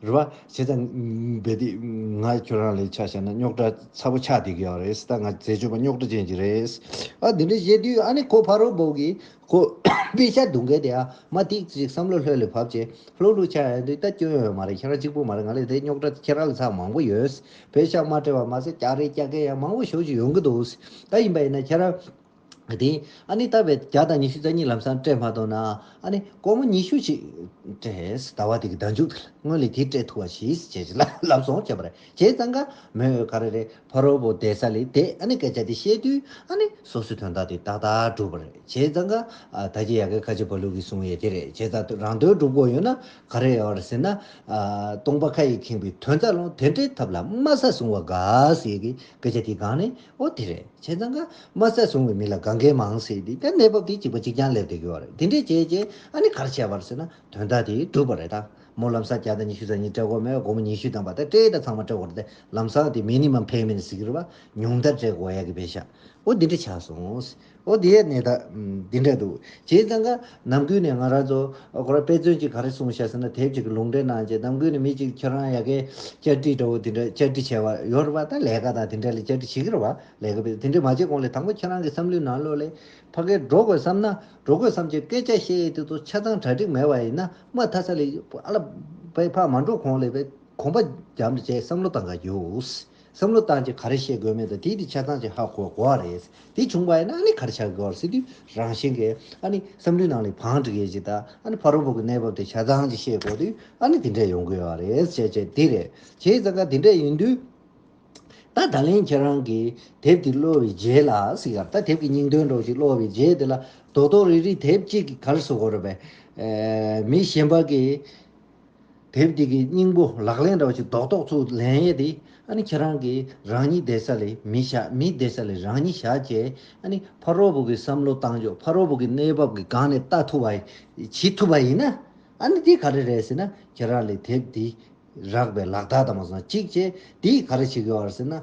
རེད་བ། བྱས་ཙང། རྦད་དེ། ང་ཁྱོད་རང་ལས་ཆ་བཤད་ན་རྙོག་དྲ་ཚ་པོ་ཆགས་བསྡད་ཀྱི་ཡོད་རེད་ད་ང་འཛད་སྤྱོད་པ་རྙོག་དྲ་ཅན་ཅིག་རེད། ཨ་འདི་འདྲ་བཤད་དུས་ཨ་ནི་ཁོ་ཕ་རོལ་པོ་གིས་ཁོ་པའི་ཤ་དུག་འགས་དེ་ཨ་མ་ཏིག་ཅིག་བསམ་བློ་ལྷོད་ལས་བབས་ཅེ་ལྷུག་ལྷུག་ཆགས་ཡོད་འདུག་ད་སྐྱོན་ཡོད་མ་རེད་ཁྱེད་རང་གཅིག་པུ་མ་རེད་ང་ལས་དེ་རྙོག་དྲ་ཁྱེད་རང་ལས་ཚགས་མང་པོ་ཡོད། བོད་ཤག་མ་བཀྲལ་བ་མ་ཟད་སྐྱག་རེད་སྐྱག་རྐན་ཡང་མང་པོ་ཞོགས་ཀྱི་ཡོང་གི་འདུག་ཨ་ཡིན་པ་ཡིན་ན་ཁྱེད་རང། དེ། ཨ་ནི་ལྟ་བའི་བརྒྱ་དང་ཉི་ཤུ་རྩ་གཉིས་ལམ་སང་སྤྲད་མ་ཐོག་ན། ཨ་ནི། སྒོར་མོ་ཉི་ཤུ་ཅིག། སྤྲད། ཟླ་བ་དེ་གི་ཟླ་མཇུག་དེ་ལ་སྔོན་ལས་དེ་སྤྲད་ཐུ་བ་ཞིག་བྱས་ཅི་ལ་ལབ་སོང་བྱས་པ་རེད་བྱས་ཙང་ཀ་མོས་འོས་ག་རེ་རེད་ཕ་རོལ་པོ་བསྡད་ས་ལས་དེ་ཨ་ནི་སྐད་ཆ་དེ་བཤད་དུས་ཨ་ནི་སོ་སོའི་དོན་དག་དེ་ཏག་ཏག་འགྲུབ་པ་རེད་བྱས་ཙང་ཀ་ད་ཀྱི་ཡ་གི་ཁ་ཆེ་བ་ལུག་གི་གསུང་ཡས་དེ་རེད་བྱས་ཙང་རང་དོན་འགྲུབ་དགོས་ཡོད་ན་ག་རེ་ཡོད་རེད་ཟེར་ན། སྟོང་པ་ཁ་ཡིས་ཁེངས་པའི་དོན་རྩ་རླུང་དེ་འདྲའི་ཐབས་ལ་དམའ་ས་བཟུང་བ་དགའ་ས་ཡས་གི་སྐད་ཆ་དེ་གང་ནས་ཨོ་དེ་རེད་བྱས་ཙང་ཀརྨ་བསད་སོང་བའི་མི་ལ་ག་འགན་མང་སྲིད་དེ་ཀ་གནས་བབ་དེ་གཅིག་པ་གཅིག་རྐྱང་སླེབས་བསྡད་དགོས་བ་རེད་དེ་འདྲས་བྱས་རྗེས་ཨ་ནི་གར་བྱས་བར་ཟེར་ན་དོན་དག་དེ་འགྲུབ་བ་རེད་ད་མོ་ལམ་སང་བརྒྱ་དང་ཉི་ཤུ་ཚང་གཉིས་སྤྲད་གོ་མེད་དགོང་མོ་ཉི་ཤུ་དང་བ་ད་སྤྲད་ད་ཚང་མ་སྤྲད་གོ་རེད་དེ་ལམ་སང་དེ་མེ་ནི་མ་འཕེན་མེ་ནི་ཟིག་རེད་བ་ཉུང་མཐར་སྤྲད་གོ་ཡ་གི་བས་ཤག་ཨོ་འདི་འདྲས་ཆགས་སོང། ཨོ་དེ་ཡས་ནས་ད། འདི་འདྲ་འདུག་བྱས་ཙང་ཀ། ནམ་ཀུན་ནས་ང་རང་ཚོ། ཁོ་རང་དཔེ་མཚོན་གྱིས་ག་རེ་གསུང་བྱས་ཟེར་ན་དེབ་ཅིག་གི་ལུང་འདྲེན་གནང་རྗེས་ནམ་ཀུན་ནས་མི་ཅིག་ཁྱེད་རང་ཡ་གའི། བཅར་འདྲི་འདྲ་བོ་དེ་འདྲ་བཅར་འདྲི་བྱས་པ་ཡོད་རེད་པ་ད་ལས་ཀ་དང་དེ་འདྲ་ལས་བཅར་འདྲི་བྱེད་ཀྱི་རེད་པ་ལས་ཀ་དེ་འདྲ་མ་བྱས་གོང་ལས་དང་པོ་ཁྱེད་རང་གི་བསམ་བློའི་ནང་བློ་ལས། ཕ་སྐད་འགྲོ་དགོས་བསམ་ན་འགྲོ་དགོས་བསམ་བྱའི་སྐད་ཆ་བཤད་ཡས་དེ་ཚོ་ཆ་ཚང་གྲ་སྒྲིག་མེད་པ་ཡིན་ན་དམའ་མཐའ་ས་ལས། ཨ་ལ། བས་ཕ་མ་འགྲོ་གོང་ལས་བས་གོམ་པ་རྒྱམ་དྲ་བྱས་བསམ་བློ་བཏང་ག་རྒྱུ། བསམ་བློ་བཏང་རྗེས་ག་རེ་བཤད་དགོས་མིན་དང་དེའི་དེ་ཆ་ཚང་ཅིག་ཧ་གོ་གོ་བ་རེད། དེ་བྱུང་བ་ཡིན་ན་ཨ་ནི་ག་རེ་བྱ་དགོས་བར་སྲིད་དུས་རང་བཞིན་གྱིས་ཨ་ནི་བསམ་བློའི་ནང་ལས་བང་བསྒྲིགས་ཡས་ཅིག་དང་ཨ་ནི་ཕ་རོལ་པོ་གི་གནས་བབ་དེ་ཆ་ཚང་ཅིག་ཤེས་དགོས་དུས་ཨ་ནི་དེ་འདྲས་ཡོང་དགོས་བ་རེད་བྱས་བྱས་དེ་རེད་བྱས་ཡས་ཙང་ཁ་དེ་འདྲས་ཡིན་དུས། ད་ད་ལན་ཁྱེད་རང་གིས་དེབ་དེ་གློ་བའི་རྗེས་ལ་སི་ཡར་ད་དེབ་ཀྱི་སྙིང་དོན་འགྲོགས་ཤིག་གློ་བའི་རྗེས་དེ་ལ་རྡོག་རྡོག་རིག་རིག་དེབ་གཅིག་གིས་ག་རེ་བཟོ་དགོས་རེད་པས། མི་གཞན་པ་གིས་དེབ་དེ་གི་སྙིང་པོ་ལག་ལེན་ར་བ་ཞིག་རྡོག་རྡོག་ཚུགས་ལན་ཡེ་དེ་ཨ་ནི་ཁྱེད་རང་གི་རང་ཉིད་བསྡད་ས་ལས་མི་བཞག་མི་བསྡད་ས་ལས་རང་ཉིད་བཞག་ཅེས་ཨ་ནི་ཕ་རོལ་བོ་གི་བསམ་བློ་བཏང་ཆོག་ཕ་རོལ་བོ་གི་གནས་བབ་ཀྱི་སྒང་ནས་བལྟ་ཐུབ་པ་བྱེད་ཐུབ་པ་ཡིན་ན་ཨ་ནི་དེ་ག་རེ་རེད་ཟེར་ན་ཁྱེད་རང་ལས་དེབ་དེ་རག་པའི་ལག་རྟགས་དང་མ་སོང་གཅིག་བྱས་དེ་ག་རེ་བྱེད་གི་བར་ཟེར་ན་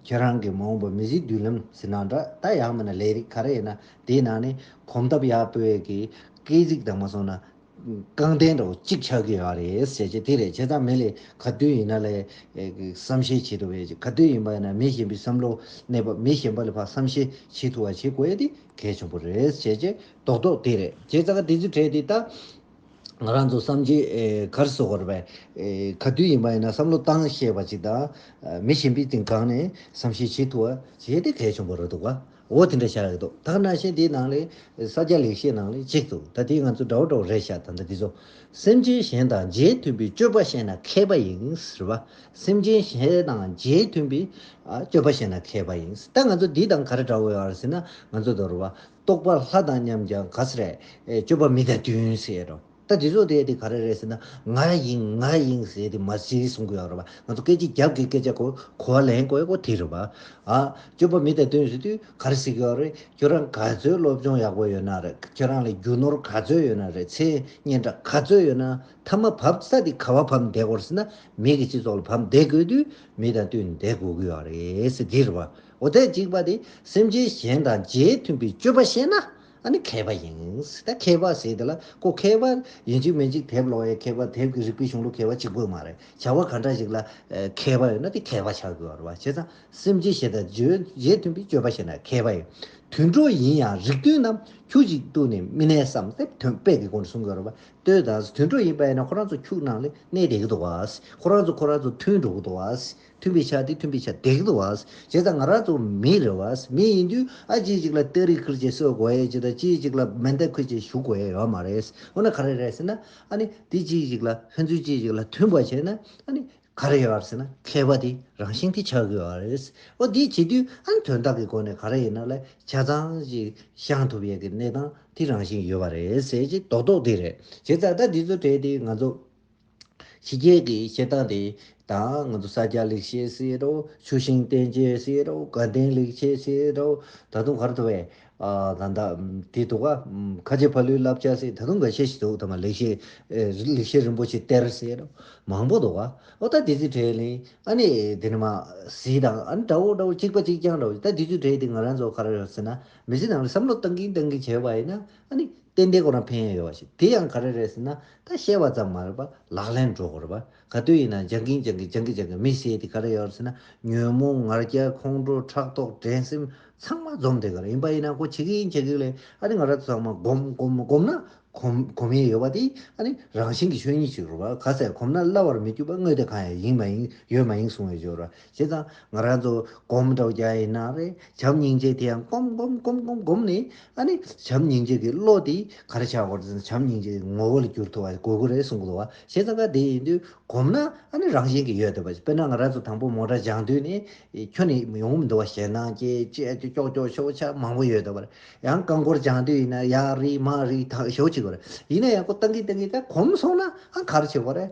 ཁྱེད་རང་གི་མ་འོངས་པ་མི་གཟིགས་དུས་ལམ་ཟེར་ན་འདྲ་ད་ཡག་མིན་ན་ལས་རིགས་ག་རེ་ཡིན་ན་དེའི་ནང་ནས་གོམ་སྟབས་ཡག་སྤོས་ཀྱི་སྐད་གཟིགས་དང་མ་སོང་ན། རྐང་སྟན་འགྲོ་གཅིག་ཆགས་ཀྱི་ཡོད་རེད་ཟེར་གྱི་དེ་རེད་བྱས་ཙང་མི་ལས་ག་དུས་ཡིན་ན་ལས་བསམ་ཤེས་བྱེད་ཐུབ་པའི་ག་དུས་ཡིན་པ་ཡིན་ན་མི་གཞན་པའི་བསམ་བློ་གནས་པ་མི་གཞན་པ་ལས་བསམ་ཤེས་བྱེད་ཐུབ་པ་བྱེད་དགོས་ཡོད་དེ་གལ་ཆེན་པོ་རེད་བྱས་རྗེས་རྡོག་རྡོག་དེ་རེད་བྱས་ཙང་དེ་ཚོའི་གྲས་དེ་དག་ང་རང་ཚོ་བསམ་གྱི་གར་སོ་གར་བས་ག་དུས་ཡིན་པ་ཡིན་ན་བསམ་བློ་བཏང་ཤེས་པ་ཅིག་དང་མི་གཞན་པའི་སྟེང་བཀག་ནས་བསམ་ཤེས་བྱེད་ཐུབ་པ་བྱས་དེ་གལ་ཆེན་པོ་རེད་འདུག་ག། འོ་དེ་འདྲ་བཞག་ཡོད་དོ་ཐག་སྣ་ཤེས་དེའི་ནང་ལས། ས་སྐྱ་ལེགས་བཤད་ནང་ལས་གཅིག་ཏུ་ད་དེའི་ང་ཚོ་འདྲ་བོ་འདྲ་བོ་རེད་བཞག་ད་འདྲ་འདི་ཚོ། སེམས་ཅན་གཞན་དང་རྗེས་མཐུན་པའི་སྤྱོད་པ་བཤད་ན་མཁས་པ་ཡིན་རེད་པ། སེམས་ཅན་གཞན་དང་རྗེས་མཐུན་པའི། སྤྱོད་པ་བཤད་ན་མཁས་པ་ཡིན། ད་ང་ཚོ་འདི་དང་ག་རེ་འདྲ་བོ་ཡོད་ཟེར་ན་ང་ཚོ་དོར་བ། རྟོག་པ་ལྷ་དང་མཉམ་ཀྱང་ག་ས་རེད། སྤྱོད་པ་མི་དང་བསྟུན་ཟེར་རོ། ད་རྗེས་ཕྱོགས་དེ་དེ་ག་རེ་རེད་ཟེར་ན་ང་ཡིན་ང་ཡིན་ཟེར་དེ་མ་གཞི་གསུང་གི་ཡོད་རེད་པ་ང་ཚོ་སྐད་ཅིག་རྒྱབ་ཀྱི་སྐད་ཆ་གོ་གོ་བ་ལེན་དགོས་དགོས་དེ་རེད་པ། ཨ། སྤྱོད་པ་མི་དེ་དོན་ཟེར་དུས་ག་རེ་ཟེར་གི་ཡོད་རེད་ཁྱོད་རང་ག་ཚོད་སློབ་སྦྱོང་ཡག་པོ་ཡོད་ན་རེད་ཁྱོད་རང་ལ་རྒྱུ་ནོར་ག་ཚོད་ཡོད་ན་རེད་མཚན་སྙན་གྲགས་ག་ཚོད་ཡོད་ན་མཐའ་མ་བབ་ས་དེ་ག་བ་བབ་བསྡད་དགོས་རེད་ཟེར་ན་མི་གི་སྤྱི་ཚོགས་ལ་བབ་བསྡད་དགོས་དུས་མི་དང་བསྟུན་བསྡད་དགོས་གི་ཡོད་རེད་ཟེར་དེ་རེད་པ་འོ་ཐད་གཅིག་པ་དེ་སེམས་ཅན་གཞན་དང་རྗེས་མཐུན་པའི་སྤྱོད་པ་བཤད་ན་ཨ་ནི་མཁས་པ་ཡིན། ད་མཁས་པ་ཟེར་དེ་ལ་ཁོ་མཁས་པ་ཡིན་གཅིག་མིན་གཅིག་དེབ་ཀློག་ཡས་མཁས་པ་དེབ་ཀྱི་རིག་པའི་གཞུང་ལུགས་མཁས་པ་གཅིག་པོ་མ་རེད་བྱ་བ་ག་འདྲ་ཞིག་ལ་མཁས་པ་ཡོད་ན་དེ་མཁས་པ་ཆགས་དགོས་རེད་བ་བྱས་ཙང་སེམས་ཅན་ཞེ་དང་བརྗོད་བྱའི་མཐུན་པའི་སྤྱོད་པ་བྱས་ན་མཁས་པ་ཡིན་དུད་འགྲོ་ཡིན་ཡང་རིགས་མཐུན་ནམ་ཁྱུ་ཅིག་ཏུ་ནི་མི་གནས་སམ་དེབ་དོན་དཔེ་གི་སྒོ་ནས་གསུང་དགོས་རེད་བ་ལྟོས་དང་དུད་འགྲོ་ཡིན་པ་ཡིན་ན་ཁོ་རང་ཚོ་ཁྱུག་ནང་ལས་གནས་བསྡད་གི་འདུག་བ་ཁོ་རང་ཚོ་ཁོ་རང་ཚོ་མཐུན་འགྲོ་གི་འདུག་བ། མཐུན་པའི་ཆ་དེ་མཐུན་པའི་ཆ་དེག་ཏུ་བས། བྱས་ཙང་ང་རང་ཚོ་མི་རེད་བས། མི་ཡིན་དུས་ཨ་ཅེ་གཅིག་ལ་སྟེ་རིགས་ཁུལ་གྱིས་གསོད་དགོས་ཡས་ཅི་དང་ཅི་གཅིག་ལ་མེ་མདའི་ཁུལ་གྱིས་ཞུགས་དགོས་ཡས་ཡོད་མ་རེད། འོ་ན་ག་རེ་རེད་ཟེར་ན། ཨ་ནི་དེ་ཅི་གཅིག་ལ་ཕན་ཚུན་ཅི་གཅིག་ལ་མཐུན་པ་བྱས་ན་ཨ་ནི་ག་རེ་ཡོད་ཟེར་ན་མཁས་པ་དེ་རང་བཞིན་དེ་ཆགས་དགོས་ཡས་རེད། འོ་དེ་བྱེད་དུས་ཨ་ནི་དོན་དག་གི་སྒོ་ནས་ག་རེ་ཡིན་ན་ལ་ཆ་ཚང་ཞིག་བཤང་ཐུབ་ཡས་ཀྱི་གནས་སྟངས་དེ་རང་བཞིན་ཡོད་པ་རེད་ཟེར་གྱི་རྡོག་རྡོག་དེ་རེད། བྱས་ཙང་ད་དེ་ཚོ་བྲལ་ཏེ་ང་ཚོ། ཕྱི་རྒྱལ་གྱི་བཤད་སྟངས་དེ་དང་ང་ཚོ་ས་སྐྱ་ལེགས་བཤད་ཟེར་རོ། ཆུ་ཤིང་བསྟན་རྒྱས་ཟེར་རོ། དགའ་ལྡན་ལེགས་བྱས་ཟེར་རོ། ད་དུང་གར་དུ་བས། ད་ད། དེ་འདུག་ག། ཁ་ཆེ་ཕ་ལུའི་བསླབ་བྱ་ཟེར་ད་དུང་འགའ་ཤས་ཤིག་འདུག་ད་མ་ལེགས་བཤད། ལེགས་བཤད་རིན་པོ་ཆེ་གཏེར་ཟེར་རོ། མང་པོ་འདུག་ག། ཨོ་ད་དེ་ཚོའི་གྲས་ལས། ཨ་ནི་དེ་ནི་མ། ཟི་དང་ཨ་ནི་འདྲ་བོ་འདྲ་བོ་གཅིག་པ་གཅིག་རྐྱང་འདྲ་བོ་ད་དེ་ཚོའི་གྲས་དེ་ང་རང་ཚོ་གར་ཡོད་ཟེར་ན། མི་ཚེ་ནང་ལ་བསམ་བློ་བཏང་གིན་བཏང་གིན་བྱས་པ་ཡིན་ན། ཨ་ནི། ཏན་ཏན་ཁོ་རང་ཕན་ཡོད་ཡོད་པ་ཞིག་དེ་ཡང་ག་རེ་རེད་ཟེར་ན། ད་བཤད་བ་ཙམ་མ་རེད་པ་ལག་ལེན་འགྲོ་དགོས་རེད་པ། ག་དུས་ཡིན་ན་སྦྱང་གིན་སྦྱང་གིན་སྦྱང་གིན་སྦྱང་གིན་མི་ཟེར་དེ་ག་རེ་ཡོད་རེད་ཟེར་ན་ཉོན་མོངས་ངར་སྐྱ་ཁོང་ཁྲོ་ཕྲག་དོག་དྲན་སེམས་ཚང་མ་འཛོམས་དེ་ག་རེ་ཡིན་པ་ཡིན་ན་ཁོ་བྱེད་གི་ཡིན་བྱེད་གི་ལེ་ཨ་རེ་ང་ར་ཚང་མ་གོམ་གོམ་གོམ་ན་གོམ་གོམ་ཡས་ཡོད་པ་དེ་ཨ་རེ་རང་བཞིན་གྱི་ཆོས་ཉིད་ཅིག་རེད་པ་ག་ཚད་གོམ་ན་བརླ་བར་མི་འགྱུར་པ་དངོས་དེ་གང་ཡང་ཡིན་མ་ཡིན་ཡོད་མ་ཡིན་གསུང་བའི་སྦྱོར་བ་ཞེས་དང། ང་རང་ཚོ་སྒོམ་གྲོགས་བརྒྱ་ཡིན་ན་རེ་བྱམས་སྙིང་རྗེ་དེ་ཡང་སྒོམ་སྒོམ་སྒོམ་སྒོམ་སྒོམ་ནས་ཨ་ནི་བྱམས་སྙིང་རྗེ་གི་བློ་དེ་ག་རེ་ཆགས་འོང་བར་བྱམས་སྙིང་རྗེ་གི་ངོ་བོ་ལ་འགྱུར་ཐུབ་པ་དགོས་གི་རེད་གསུང་གི་འདུག་བ་ཞེས་དང་ཀ་དེ་ཡིན་དུས་སྒོམ་ན་ཨ་ནི་རང་བཞིན་གི་ཡོད་འདུག་བ་དཔེར་ན་ང་རང་ཚོ་དང་པོ་མོ་ཏྲ་སྦྱང་དུས་ནས་ཁྱོད་ནི་ཡོང་གི་མི་འདུག་བ་ཞེད་སྣང་སྐྱེ་སྐྱེ་སྐྱོ་སྐྱོ་སྐྱོ་ཤོག་ཆ་མང་པོ་ཡོད་འདུག་བ་ཡང་རྐང་འཁོར་སྦྱང་དུས་ཡིན་ན་ཡར་རེ་མར་རེ་ཐག་ཞོག་ཅིག་བ་ཡིན་ན་ཡང་སྒོ་གཏང་གིན་གཏང་གིན་ད་གོམས་སོང་ན་ཨང་ག་རེ་ཆགས་པ་རེད།